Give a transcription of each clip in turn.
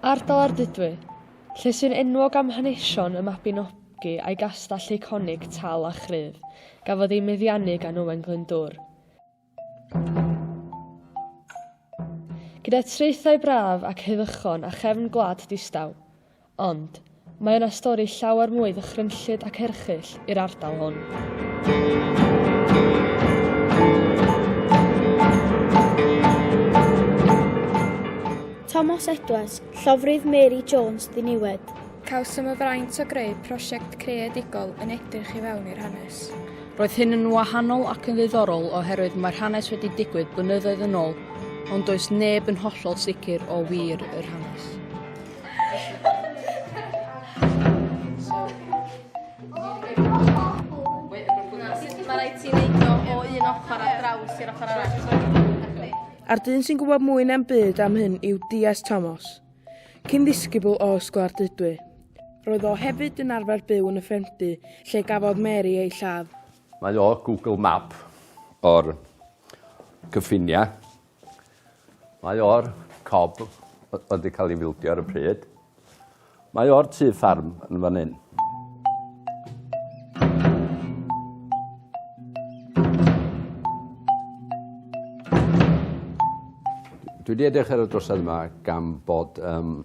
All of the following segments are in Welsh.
Ardal Ardudwy, lle sy'n enwog am hanesion y Mabinogi a'i gastell eiconig Tal a Chryf, gafodd ei meddiannu gan Owen Glyndŵr. Gyda traethau braf ac heddychon a chefn gwlad distaw. Ond, mae yna stori llawer mwy ddychrynllyd ac erchyll i'r ardal hwn. Tomos Edwards, llofrudd Mary Jones ddiniwed. Cawsom y fraint o greu prosiect creadigol yn edrych i fewn i'r hanes. Roedd hyn yn wahanol ac yn ddiddorol oherwydd mae'r hanes wedi digwydd blynyddoedd yn ôl, ond does neb yn hollol sicr o wir yr hanes. Mae rhaid ti wneud o o un ochr a draws i'r ochr arall. A'r dyn sy'n gwybod mwy na'm byd am hyn yw DS Thomas. Cyn ddisgybl o Ysgol Ardudwy, roedd o hefyd yn arfer byw yn y Ffermdy lle gafodd Mary ei lladd. Mae o Google Map o'r cyffiniau. Mae o'r cob oedd wedi cael ei fildio ar y pryd. Mae o'r tu ffarm yn fan hyn. Dwi wedi edrych ar y drosedd yma gan bod um,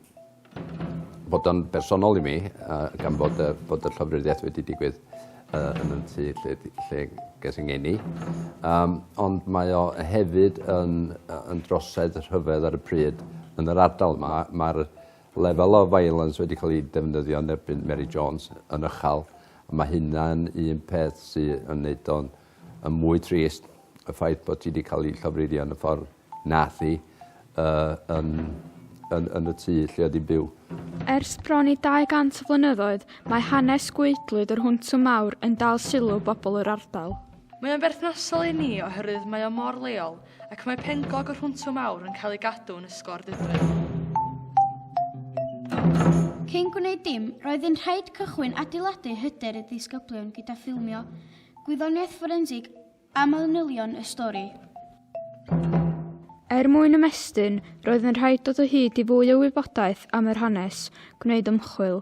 bod o'n bersonol i mi, uh, gan bod, uh, bod y llofruddiaeth wedi digwydd uh, yn y tu lle, lle ges yng ngeni. Um, ond mae o hefyd yn, yn drosedd rhyfedd ar y pryd yn yr ardal yma. Mae'r Level of violence wedi cael ei defnyddio yn erbyn Mary Jones yn ychal, a mae hynna'n un peth sy yn neud o'n yn mwy trist, y ffaith bod hi wedi cael ei llofruddio yn y ffordd nath hi uh, yn, yn, yn y tŷ lle oedd hi'n byw. Ers bron i 200 o flynyddoedd, mae hanes gweidlwyd yr Hwntwm Mawr yn dal sylw bobl yr ardal. Mae o'n berthnasol i ni oherwydd mae o mor leol, ac mae penglog yr Hwntwr Mawr yn cael ei gadw yn ysgor Dyfrdwy. Cyn gwneud dim, roedd yn rhaid cychwyn adeiladu hyder y disgyblion gyda ffilmio gwyddoniaeth fforensig a manylion y stori. Er mwyn ymestyn, roedd yn rhaid dod o hyd i fwy o wybodaeth am yr hanes, gwneud ymchwil,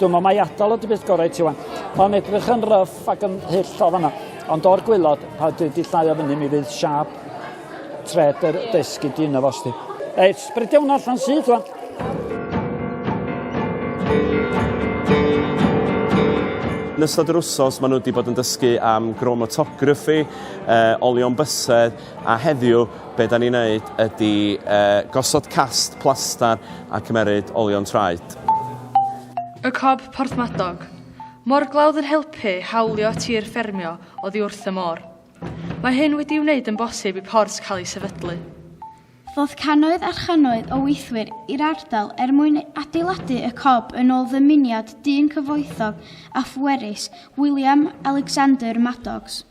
Dwi'n meddwl mai atal ydy beth gorau i ti wan. Mae'n edrych yn ryff ac yn hyll o fanna. Ond o'r gwylod, pa dwi wedi llai o fyny, mi fydd siap tred yr desgu di yna fos di. Ei, sbrydio hwnna allan syth wan. Yn ystod yr wsos, maen nhw wedi bod yn dysgu am chromatography, uh, olion bysedd, a heddiw, be da ni'n neud ydy uh, gosod cast plastar a cymeryd olion traed. Y Cob Porthmadog. Morglawdd yn helpu hawlio tir ffermio oddi wrth y môr. Mae hyn wedi'i wneud yn bosib i port cael ei sefydlu. Ddoth cannoedd a channoedd o weithwyr i'r ardal er mwyn adeiladu y cob yn ôl ddymuniad dyn cyfoethog a phwerus, William Alexander Maddox.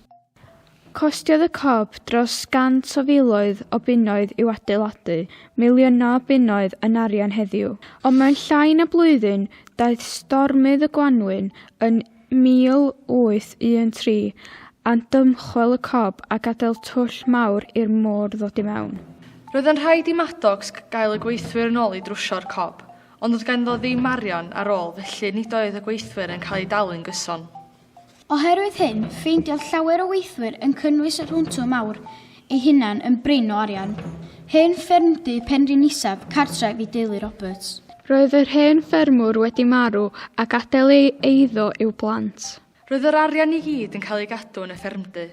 Costiodd y cob dros gant o filoedd o bunnoedd i'w adeiladu, miliynau o bunnoedd yn arian heddiw. Ond mewn llai na blwyddyn, daeth stormydd y gwanwyn yn 1813 a'n dymchwel y cob a gadael twll mawr i'r môr ddod i mewn. Roedd yn rhaid i Maddox gael y gweithwyr yn ôl i drwsio'r cob, ond doedd ganddo ddim arian ar ôl felly nid oedd y gweithwyr yn cael eu dalu'n gyson. Oherwydd hyn, ffeindiodd llawer o weithwyr yn cynnwys y Rhwntw Mawr ei hunan yn brin o arian. Hen ffermdy Penrhyn Isaf, cartref i deulu Roberts. Roedd yr hen ffermwr wedi marw a gadael ei eiddo i'w blant. Roedd yr arian i gyd yn cael ei gadw yn y ffermdy.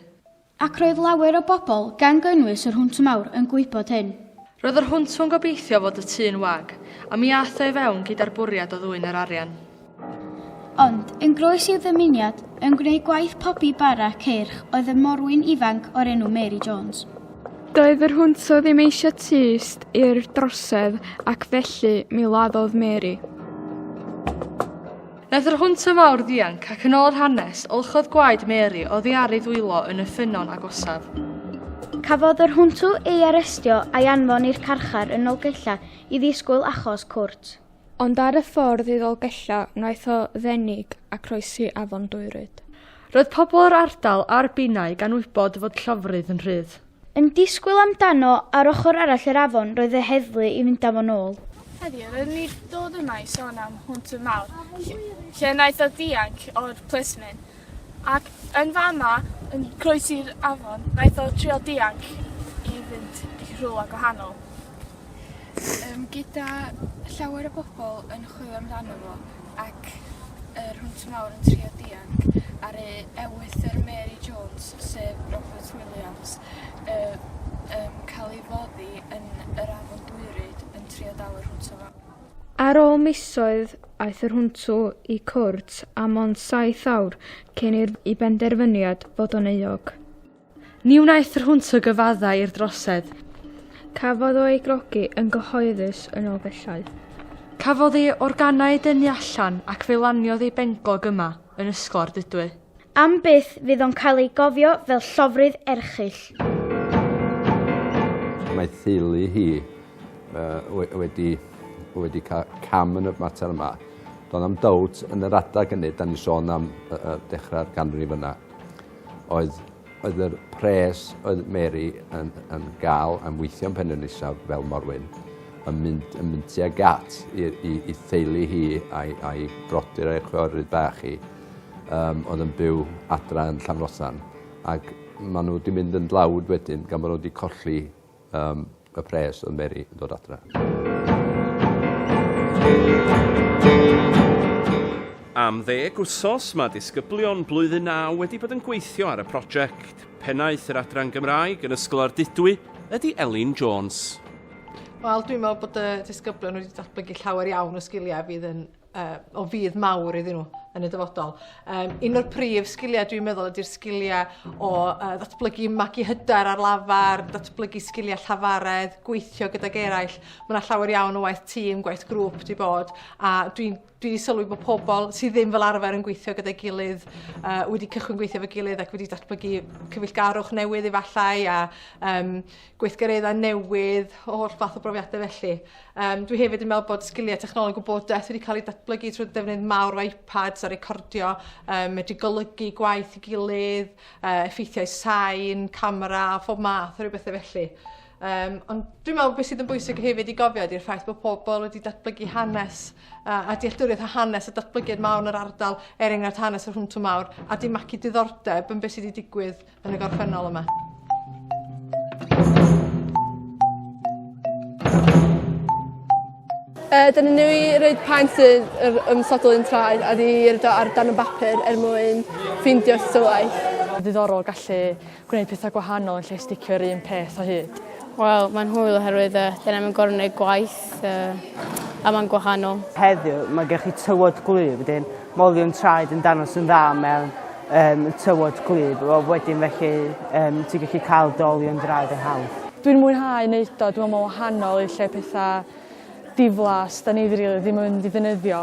Ac roedd lawer o bobl, gan gynnwys yr Hwnt Mawr, yn gwybod hyn. Roedd yr Hwnt yn gobeithio fod y tŷ'n wag, a mi aeth o i fewn gyda'r bwriad o ddwyn yr arian. Ond, yn groes i'w ddymuniad, yn gwneud gwaith pobi bara ceirch oedd y morwyn ifanc o'r enw Mary Jones. Doedd yr Hwnt ddim eisiau tyst i'r drosedd ac felly mi laddodd Mary. Wnaeth yr hwnt y mawr ddianc ac yn ôl yr hanes, olchodd gwaed Mary oddi ar ei ddwylo yn y ffynnon agosaf. Cafodd yr hwntw ei arestio a'i anfon i'r carchar yn Nolgella i ddisgwyl achos cwrt. Ond ar y ffordd i Ddolgella wnaeth o ddenig a croesi afon Dwyryd. Roedd pobl yr ardal a'r Binaig anwybod fod llofrudd yn rhydd. Yn disgwyl amdano ar ochr arall yr afon roedd y heddlu i fynd â fo'n ôl. Heddiw rydyn ni dod yma i sôn am Hwnt y Mawr, lle wnaeth o ddianc o'r plismyn, ac yn fama, yn croesi'r afon, wnaeth o trio dianc i fynd i rhywle gwahanol. yym gyda llawer o bobol yn chwilio amdano fo ac yr hwnt mawr yn trio dianc ar ei ewythr Mary Jones sef Robert Williams yy yn ca'l ei foddi yn yr Afon Dwyryd yn trio dal yr hwnt o fewn. Ar ôl misoedd aeth yr hwnt o i cwrt a mond saith awr cyn i'r i benderfyniad fod o'n euog. Ni wnaeth yr hwnt o gyfaddau i'r drosedd. Cafodd o ei grogi yn gyhoeddus yn ôl bellai. Cafodd ei organau dynnu allan ac fe laniodd ei benglog yma, yn Ysgol Ardudwy. Am byth fydd o'n cael ei gofio fel llofrudd erchyll. Mae theulu hi wedi cael cam yn y mater yma. Doedd na'm dowt yn yr adeg hynny, 'dan ni'n sôn am dechrau'r ganrif yna. oedd oedd yr pres oedd Mary yn yn ga'l am weithio yn Penrhyn Isaf fel morwyn yn mynd yn mynd tuag at i i i theulu hi a'i a'i brodyr a'i chwiorydd bach hi yym oedd yn byw adra yn Llanfrothan ag ma' n'w 'di mynd yn dlawd wedyn gan bo' n'w 'di colli Am y pres oedd Mary yn dod adra. Am ddeg wsos mae disgyblion blwyddyn naw wedi bod yn gweithio ar y prosiect. Pennaeth yr Adran Gymraeg yn Ysgol Ardudwy ydy Elin Jones. Wel, dwi'n meddwl bod y disgyblion wedi datblygu llawer iawn o sgiliau fydd yn uh, o fydd mawr iddyn nhw yn y dyfodol. Um, un o'r prif sgiliau dwi'n meddwl ydy'r sgiliau o uh, ddatblygu magu hyder ar lafar, datblygu sgiliau llafaredd, gweithio gydag eraill. Mae yna llawer iawn o waith tîm, gwaith grŵp di bod, a dwi'n dwi wedi sylwi bod pobl sydd ddim fel arfer yn gweithio gyda'i gilydd, uh, wedi cychwyn gweithio fe gilydd ac wedi datblygu cyfeillgarwch newydd efallai a um, gweithgareddau newydd, holl fath o brofiadau felly. Um, dwi hefyd yn meddwl bod sgiliau technoleg gwybodaeth wedi cael ei datblygu trwy defnydd mawr o iPads a recordio, um, medru golygu gwaith i gilydd, uh, effeithiau sain, camera a phob math o rhywbeth felly. Um, ond dwi'n meddwl beth sydd yn bwysig hefyd i gofio ydy'r ffaith bod pobl wedi datblygu hanes a, a dealltwriaeth a hanes a datblygiad mawr yn yr ardal, er enghraifft hanes yr hwntw mawr, a di magu diddordeb yn beth sydd wedi digwydd yn y gorffennol yma. Uh, Dyna ni i reid paent sydd yr ymsodol yn traed a di rydw ar dan y bapur er mwyn ffeindio tystiolaeth. Ddiddorol gallu gwneud pethau gwahanol yn lle sticio'r un peth o hyd. Wel, mae'n hwyl oherwydd uh, dyna mae'n gorau gwneud gwaith. gwaith a mae'n gwahanol. Heddiw, mae gen chi tywod gwlyb, wedyn molion traed yn danos yn dda mewn um, tywod gwlyb. Wel, wedyn felly, um, ti'n gallu cael dolion draed yn hawdd. Dwi'n mwynhau wneud o, dwi'n meddwl mae'n wahanol i lle pethau diflas, da ni ddim yn mynd i ddefnyddio.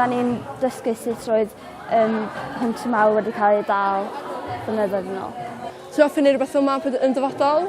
Da ni'n dysgu sut roedd um, hwnt mawr wedi cael ei dal blynyddoedd yn ôl. Ti'n ofyn i rhywbeth fel ma yn dyfodol?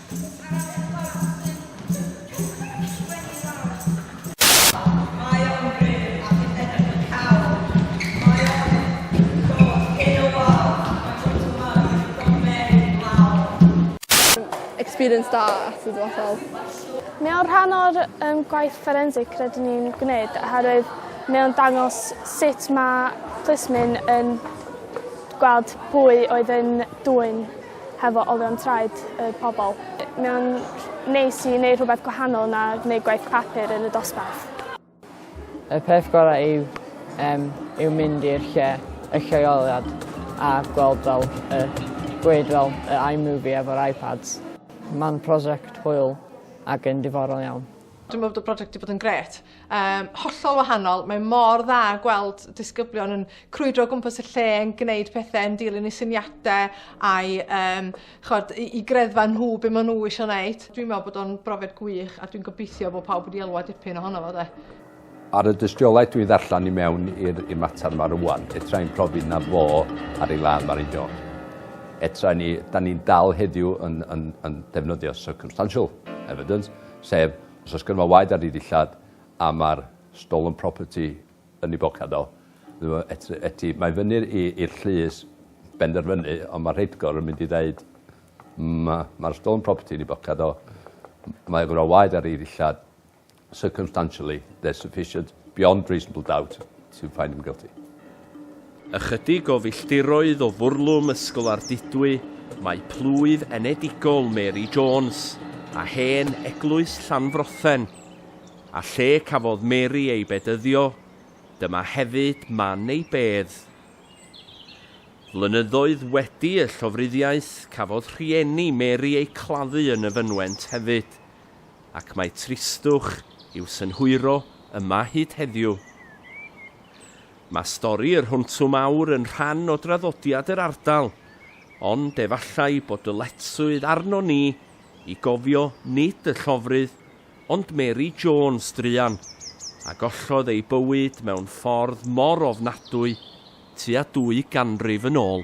experience da at y dyfodol. Mae o'n rhan o'r um, gwaith forensig rydyn ni'n gwneud oherwydd mae o'n dangos sut mae plismyn yn gweld pwy oedd yn dwy'n hefo olion traed y pobl. Mae o'n neis i neud rhywbeth gwahanol na gneud gwaith papur yn y dosbarth. Y peth gorau yw um, yw mynd i'r lle, y lleoliad, a gweld fel, y, gweud fel y iMovie efo'r iPads. Mae'n prosiect hwyl ac yn diddorol iawn. Dwi'n meddwl bod y prosiect wedi bod yn gret. Um, hollol wahanol. Mae mor dda gweld disgyblion yn crwydro gwmpas y lle, yn gwneud pethau, yn dilyn i syniadau a'i um, chod, i, i greddfa nhw be maen nhw eisiau gwneud. Dwi'n meddwl bod o'n brofiad gwych a dwi'n gobeithio bod pawb wedi elwa dipyn ohono fo de. Ar y dystiolaeth dwi'n ddarllen i mewn i'r mater yma rwan, etra i'n profi na fo ar ei ladd Mari John. Etra ni, da ni'n dal heddiw yn, yn, yn defnyddio circumstantial evidence, sef Os oes gynno fo waed ar ei ddillad a mae'r stolen property yn ei bocad o, eti, mae fyny'r i'r llys benderfynu, ond mae'r rheithgor yn mynd i ddeud, mae'r stolen property yn ei bocad o, mae gynno fo waed ar ei ddillad, circumstantially, there's sufficient, beyond reasonable doubt, to find him guilty. Ychydig o filltiroedd o fwrlwm Ysgol Ardudwy mae plwyf enedigol Mary Jones a hen eglwys Llanfrothen, a lle cafodd Mary ei bedyddio, dyma hefyd man ei bedd. Flynyddoedd wedi y llofruddiaeth cafodd rhieni Mary eu claddu yn y fynwent hefyd, ac mae tristwch i'w synhwyro yma hyd heddiw. Mae stori yr Hwntw Mawr yn rhan o draddodiad yr ardal, ond efallai bod dyletswydd arnon ni i gofio nid y llofrudd, ond Mary Jones druan, a gollodd ei bywyd mewn ffordd mor ofnadwy tua dwy ganrif yn ôl.